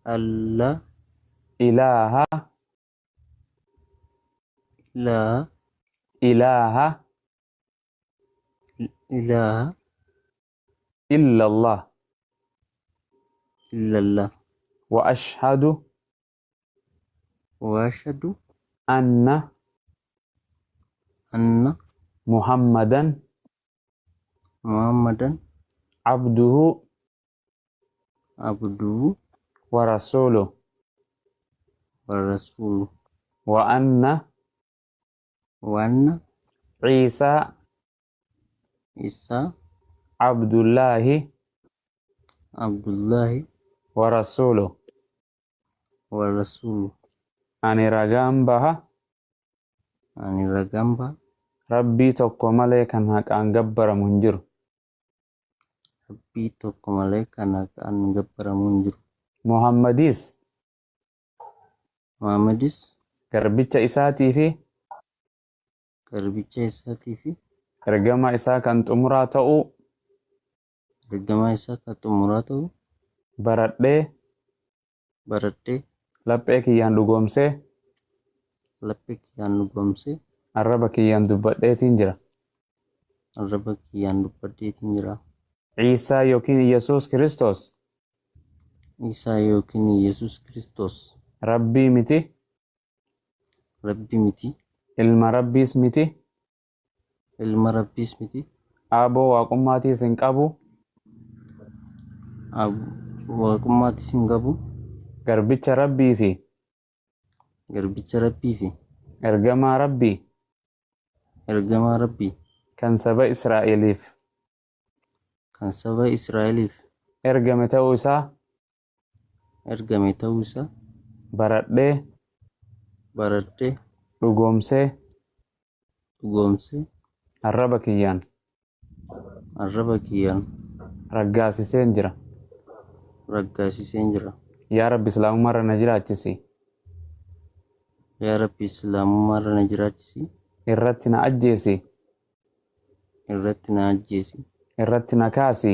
Alla. Ilaaha. Ilaa. Ilaaha. Ilaaha. Illallah. Illallah. Wa ashhadu. Wa ashhadu. Anna. Anna. Muhammadan. Muhammadan. Abduhu. abduu warasuulu warasuulu wa anna wanna ciisaa isaa abdullaahi abdullaahi warasuulu warasuulu ani ragaan baha ani ragamba rabbii tokko malee kan haqaan gabbaramu hin jiru Rabbii tokko malee kan haqaan gabbaramu hin jiru. Muhammadis. Muhammadis. Garbicha isaatii fi. Garbicha isaatii fi. Ergamaa isaa kan xumuraa ta'uu. Ergamaa isaa kan xumuraa ta'uu. Baradhee. baradhee. Laphee kiyyaan dhugoomsee. Laphee kiyyaan dhugoomsee. Arraba kiyyaan dubbadheetiin jira. Arraba kiyyaan dubbadheetiin jira. Iisaa yookiin Iyyasuus Kiristoos. Iisaa yookiin Iyyasuus Kiristoos. Rabbii miti. Rabbii miti. Ilma Rabbiis miti. ilma rabbiis miti Aaboo waaqummaatiis hin qabu. Ab- waaqummaattis hin qabu Garbicha Rabbii fi garbicha rabbii fi ergamaa Rabbii ergamaa rabbii kan saba Israa'eliif kan saba israa'eliif ergame ta'uu isaa ergame ta'uu isaa baradhee baradhee dhugoomsee dhugoomsee arraba kiyyaan arraba kiyyaan raggaasiseen jira. raggaasiseen jira. Yaa Rabbi Islaamummaa irra na jiraachisi. Yaa Rabbi Islaamummaa irra na jiraachisi. Irratti na ajjeesi. Irratti na ajjeesi. Irratti na kaasi.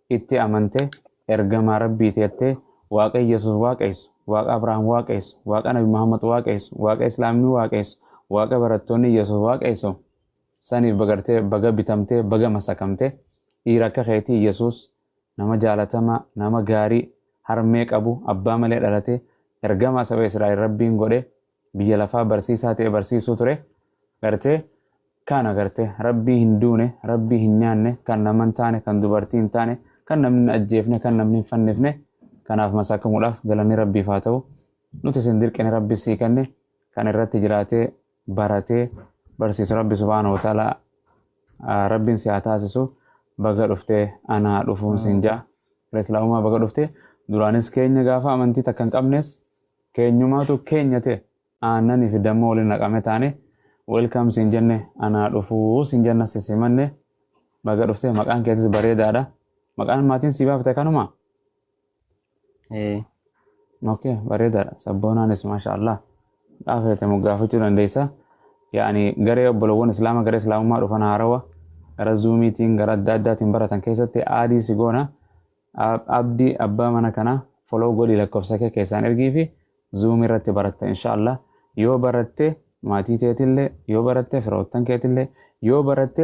itti amante ergamaa rabbii teette waaqa yesus waaqeessu waaqa abrahaam waaqeessu waaqa nabi muhammad waaqeessu waaqa islaamni waaqeessu waaqa barattoonni yesus waaqeessu saniif bagartee baga bitamtee baga masakamte dhiira akka keetii yesus nama jaalatamaa nama gaarii harmee qabu abbaa malee dhalate ergamaa saba israa'el rabbiin godhe biyya lafaa barsiisaa ta'e barsiisuu ture gartee kaan agarte rabbii hin duune rabbii hin nyaanne kan nama hin taane kan dubartii hin taane kan namni hin ajjeefne kan namni hin fannifne kanaaf masakamuudhaaf galanni rabbiif haa ta'u nuti isin dirqine rabbi sii kenne kan irratti jiraatee baratee barsiisu rabbi subhaanahu wa ta'ala rabbiin si haa taasisu baga dhuftee anaa dhufuun siin ja'a. Islaamummaa baga dhuftee duraanis keenya gaafa amantii takka hin qabnes Keenyumaatu keenya ta'e aannani fi damma waliin naqame taane welcome siin jenne anaa dhufuu siin jenna si simanne baga dhufte maqaan keetis bareedaadha maqaan maatiin sii baafte kanuma Ee. okay bareedaadha sabboonaanis maasha allah dhaafeete moggaafachuu dandeessa yaani garee obbolowwan islaama garee islaamummaa dhufan haarawa gara zuumiitiin gara adda addaatiin baratan keessatti aadii si goona Abdi abba mana kana follow godhi lakkofsake keessaan ergiifi zoom irratti baratta insha allah yoo baratte maatii teetille yoo baratte firoottan keetille yoo baratte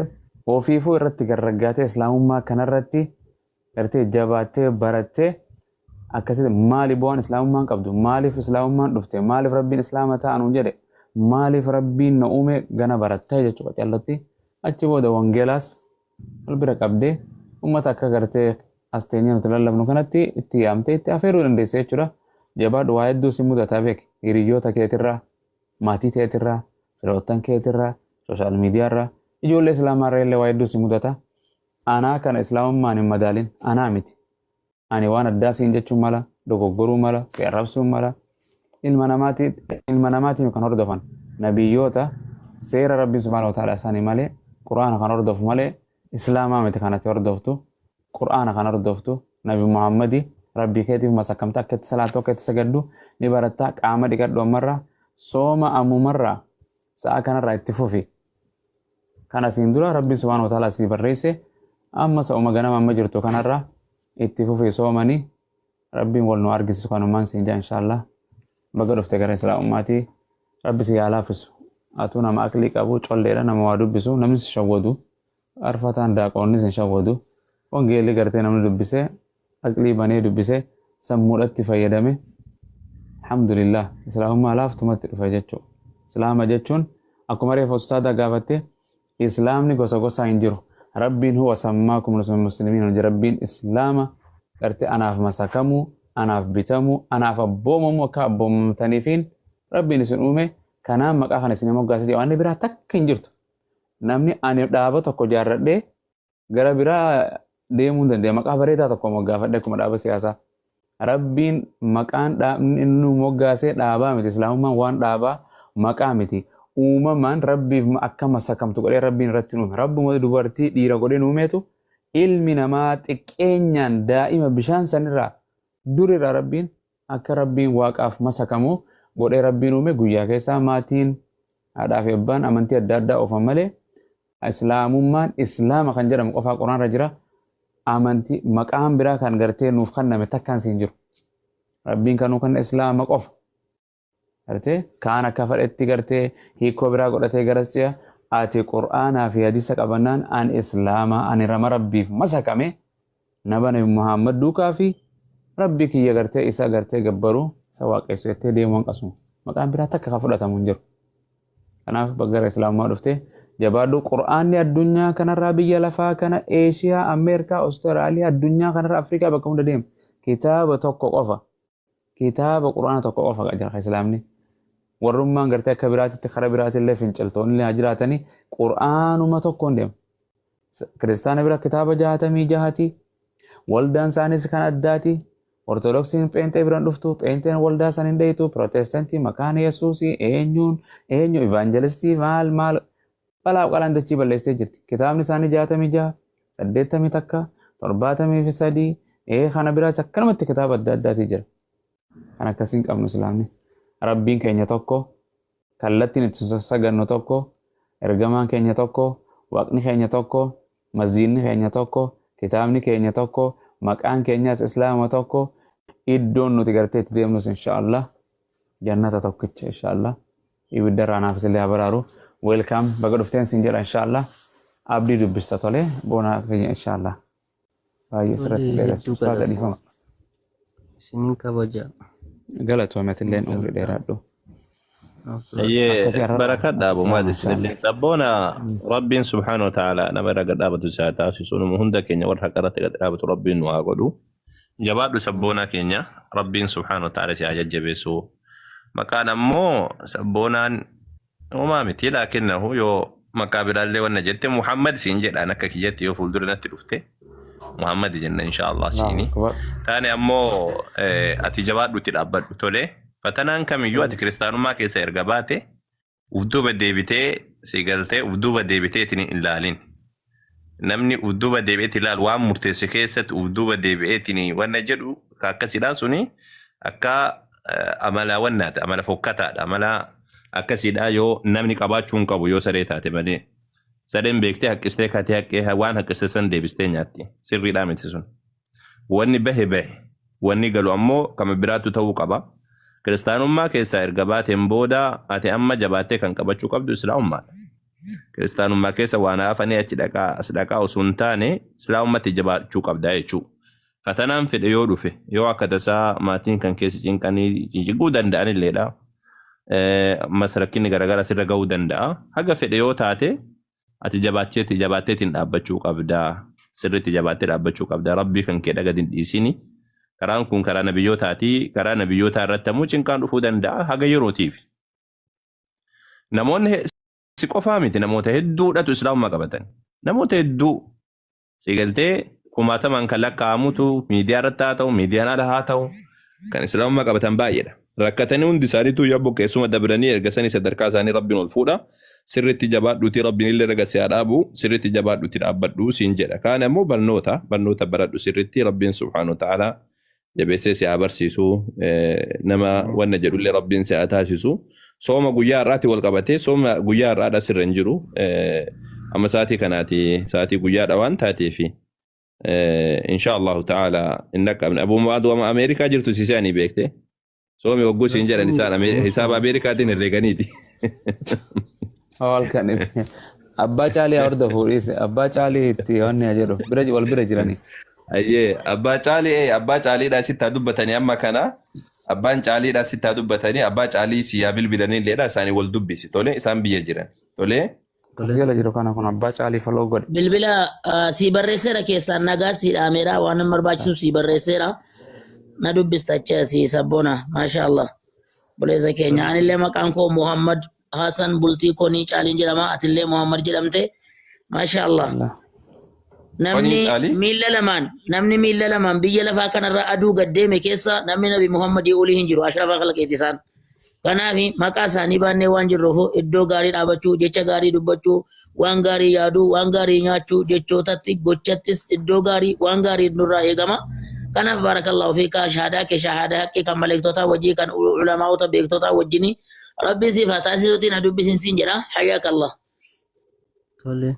ofiifuu irratti garraggaatee islaamummaa kanarratti irratti jabaattee barattee akkasitti maali bu'aan islaamummaan qabdu maaliif islaamummaan dhufte maaliif rabbiin islaama ta'anuun jedhe maaliif rabbiin na uume gana barattee jechuudha callatti achi booda wangeelaas wal bira qabdee uummata akka gartee as teenyee nuti lallabnu kanatti itti yaamtee itti afeeruu dandeessa jechuudha. Jabaadhu waa hedduu si mudataa beek hiriyyoota keetirraa maatii teetirraa firoottan keetirraa sooshaal miidiyaarraa ijoollee islaamaarra illee waa hedduu si mudata. Anaa kana islaamummaan hin madaalin anaa miti. ani waan addaa siin jechuun mala dogoggoruu mala si arrabsuun mala ilma namaatiin ilma namaatiin kan hordofan nabiyyoota seera rabbiin subhaana wa ta'ala isaanii malee qur'aana kan hordofu malee islaamaa miti kanatti hordoftu qur'aana kan hordoftu nabi muhammadi rabbii keetiif masakkamta akka itti salaatu akka itti sagaddu ni baratta qaama dhiqadhu ammarraa sooma ammumarraa sa'a kanarraa itti fufi kan asiin dura rabbiin subhaanahu wa ta'ala asii barreesse amma sa'uma ganama amma jirtu kanarra itti fufii soomani rabbiin wal nu argisisu kanumaan siin jaa inshaallah baga dhufte gara islaamummaatii rabbi si yaa laaffisu atuu nama aqlii qabu colleedha nama waa dubbisu namni si shawwadu Faarfataan daaqoonnis hin shawwadu. Wangeelli gartee namni dubbisee aqlii banee dubbisee sammuudhatti fayyadame alhamdulillah islaamummaa laaftumatti dhufe jechuudha. Islaama jechuun akkuma reefa ustaadaa gaafatte islaamni gosa gosaa hin jiru. Rabbiin huwa sammaakum muslimiin hojii rabbiin islaama gartee anaaf masakamuu anaaf bitamuu anaaf abboomamuu akka abboomamtaniifiin rabbiin isin uume kanaan maqaa kana isin moggaasee waan biraa takka hin jirtu. Namni ani dhaaba tokko jaarradhee gara biraa deemuu hin danda'e. Maqaa bareedaa tokko moggaafadhe akkuma dhaaba siyaasaa. Rabbiin maqaan dhaabni inni nu moggaasee dhaabaa miti. Islaamummaan waan dhaabaa maqaa miti. Uumamaan rabbiif ma- akka masakamtu godhee rabbiin irratti nu uume. Rabbuma dubartii dhiira godhee nu uumeetu ilmi namaa xiqqeenyaan daa'ima bishaan sanirraa durirraa rabbiin Akka Rabbiin Waaqaaf masakamu godhee Rabbiin uume guyyaa keessaa maatiin, haadhaa fi abbaan amantii adda addaa oofan malee Islaamummaan Islaama kan jedhamu qofaa Quraanarra jira. Amantii maqaan biraa kan gartee nuuf kanname takkaan siin jiru. Rabbiin kanuu kanna Islaama qofa. Garte kaan akka fadhetti gartee hiikkoo biraa godhatee garas ce'a ati qur'aanaa fi hadisa qabannaan an islaamaa ani rama rabbiif masakame naba nabi muhammad duukaa fi rabbi kiyya gartee isa gartee gabbaru isa waaqessu jettee deemuu hanqasu maqaan biraa takka kan fudhatamu hin jiru kanaaf baggara islaamummaa dhuftee jabaadhu qur'aanni addunyaa kanarraa biyya lafaa kana eeshiyaa ameerikaa awustiraaliyaa addunyaa kanarra afrikaa bakka hunda deema kitaaba tokko qofa Kitaaba Qur'aana tokko qofa qajeelcha kan Islaamni. Warrummaan gartee akka biraatitti karaa biraatillee finciltoonni haa jiraatanii Qur'aanuma tokkoon deema. Kiristaana bira kitaaba jaatamii jahati. Waldaan isaaniis kan addaati. Ortodoksiin pheenxee biraan dhuftu, pheenxeen waldaa san hin dheeytu, pirootestaantii makaana Yesuusii, eenyuun, eenyu, ivaanjelistii, maal, maal. Dhalaaf qalaan dachii balleessitee jirti. Kitaabni isaanii jaatamii jaha, saddeettamii takka, torbaatamii fi sadii, ee kana biraas akkanumatti kitaaba adda addaatii jira. Kan akkasiin qabnu islaamni. Rabbiin keenya tokko, kallattiin itti sagannu tokko, ergamaan keenya tokko, waaqni keenya tokko, masjiidni keenya tokko, kitaabni keenya tokko, maqaan keenyas islaama tokko, iddoon nuti gartee itti deemnus inshaallah jannata tokkicha inshaallah. Ibidda irraa naaf isinillee haa baraaru. Welcome baga dhufteen sin jedha inshallah. Abdii dubbista tole boona keenya inshallah. Baay'ee Tole sirratti dheeras. hedduu Ustaaza galatooma. dhiifama. Isinin kabaja. Galatoomi atilleen Isin umrii galata. dheeraadhu. Afwan. Ayyee Akkasii har'a barakadha abu akkasii maad haasaan. isinillee sabboona rabbiin subhaanahu wa ta'ala nama irra gad dhaabatu isaa taasisu nama hunda keenya warra haqarratti gad dhaabatu rabbiin nu haa godhu. Jabaadhu sabboonaa keenya rabbiin subhaana wa ta'ala si haa jajjabeessu. Maqaan ammoo sabboonaan homaa miti laakinnahu yoo maqaa biraallee wanna jette Muhammad siin jedhaan akka kiyyatti yoo fuuldura natti dhufte Muhammad jenna inshaallah Allahu siini. akbar. Taane ammoo eh, ati jabaadhutti dhaabbadhu tolee. Fatanaan kamiyyuu ati kiristaanummaa keessa erga baate uf duuba deebitee si galtee uf duuba deebiteetiin hin ilaalin. Namni uf duuba deebi'eetiin ilaalu waan murteesse keessatti uf duuba deebi'eetiin wanna jedhu ka akkasiidhaan suni akka eh, amala wannaati amala fokkataadha amala akkasiidhaa yoo namni qabaachuu hin qabu yoo saree taate malee. Sareen beektee haqqistee katee haqqee waan haqqiste san deebistee nyaatti sirriidhaa miti sun. Wanni bahe bahe. Wanni galu ammoo kama biraattu ta'uu qaba. Kiristaanummaa keessaa erga baateen booda ati amma jabaattee kan qabachuu qabdu Islaamummaadha. Kiristaanummaa keessa waan hafanii achi dhaqaa as dhaqaa osoo hin taane Islaamummatti jabaachuu qabda jechuudha. Fatanaan fedhe yoo dhufe yoo akka tasaa maatiin kan keessi cinqanii cinciguu danda'anilleedha. Ammas rakkinni garaagaraa sirra ga'uu danda'a. Haga fedhe yoo taate Ati jabaatteeti jabaatteetiin dhaabbachuu qabda. Sirriitti jabaattee dhaabbachuu qabda. Rabbii kan keedha gad hin dhiisini. Karaan kun karaa nabiyyootaati. Karaa nabiyyootaa irratti ammoo cinqaan dhufuu danda'a haga yerootiif. Namoonni si qofaa miti namoota hedduudhatu islaamummaa qabatan. Namoota hedduu Si galtee kumaatamaan kan lakkaa'amutu miidiyaa irratti haa ta'u, miidiyaan ala haa ta'u, kan islaamummaa qabatan baay'eedha. Rakkatanii hundi isaaniitu yaa buqqeessuma dabranii erga sanii sadarkaa isaanii rabbiin ol fuudha. Sirriitti jabaadhuutii rabbiin illee raga si haa dhaabu, sirriitti jabaadhuutii dhaabbadhu siin jedha. Kaan ammoo barnoota, barnoota baradhu sirriitti rabbiin subhaanahu wa ta'aalaa jabeessee si haa barsiisu nama wanna jedhullee rabbiin si haa taasisu sooma guyyaa har'aatti wal qabatee sooma guyyaa har'aadha sirra hin jiru amma sa'aatii kanaati sa'aatii guyyaadha waan taateefi insha allahu ta'ala hin dhaqqabne abuu mu'aad wama ameerikaa jirtu si se'anii beekte Soomi hogguu siin jedhan isaan Ame- hisaaba Ameerikaatiin herreeganiiti. Hoo halkan ife. Abbaa caalii horda fuudhiis. Abbaa caalii itti wanni haa jedhu. Bira wal bira jiranii. Ayyee abbaa caalii ee abbaa caaliidhaa sitti haa dubbatanii amma kana abbaan caaliidhaa sitti haa dubbatanii abbaa caalii si yaa bilbilanii illee isaanii wal dubbisi tole isaan biyya jiran tole. As jala jiru kana kun abbaa caalii follow godhe. Bilbila ah, sii barreesseera keessaan nagaa sii dhaameera waan hin barbaachisu sii barreesseera. Na dubbista achi asii sabboona maasha Allah. Buleessa keenya anillee maqaan koo Muhammad Hassan bultii konii caaliin jedhama atillee Muhammad jedhamte maasha Allah. Allah. Namni Konii caalii? miila lamaan namni miila lamaan biyya lafaa kanarra aduu gad deeme keessa namni nabi Muhammadii olii hin jiru ashrafaa khalqeeti isaan. Kanaaf maqaa isaanii baannee waan jirruuf iddoo gaarii dhaabachuu, jecha gaarii dubbachuu, waan gaarii yaaduu, waan gaarii nyaachuu, jechootatti, gochattis iddoo gaarii waan gaarii nurraa eegama. Kanaaf baarakallahu fiikaa shahaadaa kee shahaadaa haqqii kan maleektotaa wajjii kan ulamaa'ota beektotaa wajjini rabbiin siif haa taasisuutiin na dubbisiin siin jedha hayyaaka Allah. Tole